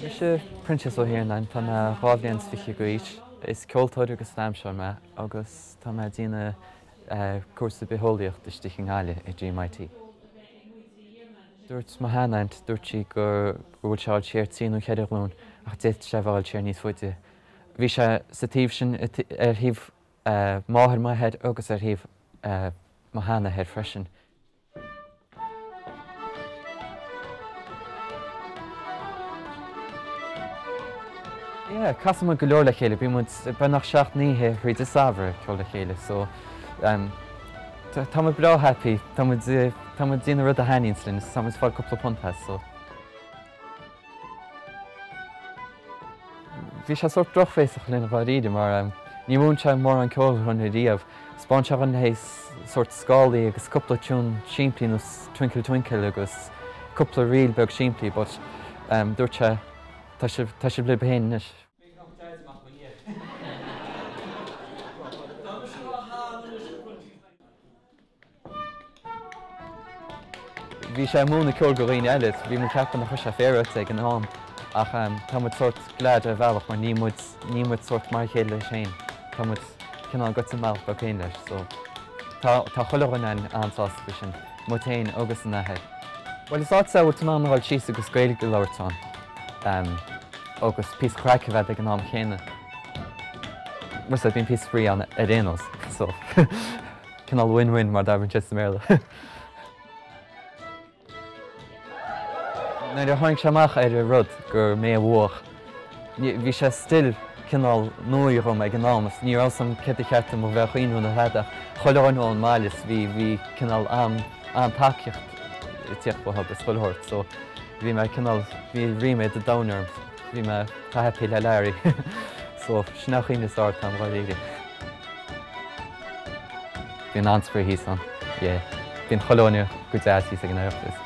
Mise Proinsias Ó hIarnáin, tá mé dhá bhliain is fichead d'aois. Is ceoltóir agus damhsóir mé agus tá mé ag déanamh cúrsa bitheolaíocht istigh i nGaillimh ag GMIT. Dúirt mo shean aint, dúirt sí go bhfuil sé ag gabháil siar trí nó cheithre ghlúin ach d'fhéadfadh sé a bheith ag gabháil siar níos faide. Bhí sé sa taobh sin, ar thaobh máthair m'athar agus ar thaobh mo sheanathar freisin. Yeah, casann muid go leor le chéile, bíonn muid beagnach seacht n-oíche thríd an samhradh ag ceol le chéile so, Tá muid breá happy. Tá muid, tá muid ag déanamh rud a thaitníonns linn is tá muid ag fáil cúpla punt as so. Bhí sé sórt drochbhéasach linn dháiríre mar níor mhúin sé mórán ceoil dhuinn riamh. 'Spáin sé dhuinn hé sórt scálaí agus cúpla tiún simplí nós Twinkle Twinkle agus cúpla ríl beag simplí but dúirt sé tá sibh, tá sibh libh féin anois. Bhí sé ag múineadh ceoil go dhaoine eile, bhí muid ag ceapadh nach raibh sé féaráilte ag an am ach tá muid sórt glad ar bhealach mar níl muid, níl muid sórt mar a chéile leis féin, tá muid cineál ag goil inár mbealach beag féin leis so tá, tá chuile dhuine an-sásta faoi sin, muid féin agus an t-athair. Bhuel is áit sómhar le bheith ag goil síos agus Gaeilge a labhairt ann. agus píosa craic a bheith agat ag an am chéanna. So bíonn píosa spraoi ann ar aon nós. So, cineál win win mar a déarfadh siad sa mBéarla. Nuair a tháinig sé amach ar an rud gur mé a bhuaigh, bhí sé still cineál nua dhom ag an am agus ní raibh 's agam céard ba cheart dom a bheith a cheapadh nó tada. Chuile dhuine ón mbaile is bhí cineál an-tacaíocht ag tíocht uathu agus chuile shórt. So. bhí mé cineál, bhí ríméad an domhain orm, bhí mé chomh happy le Larry so sin é an chaoi is fearr lena rá dháiríre. Bíonn an-spraoi thíos ann, yeah. Bíonn chuile dhuine go deas thíos ag an Oireachtas.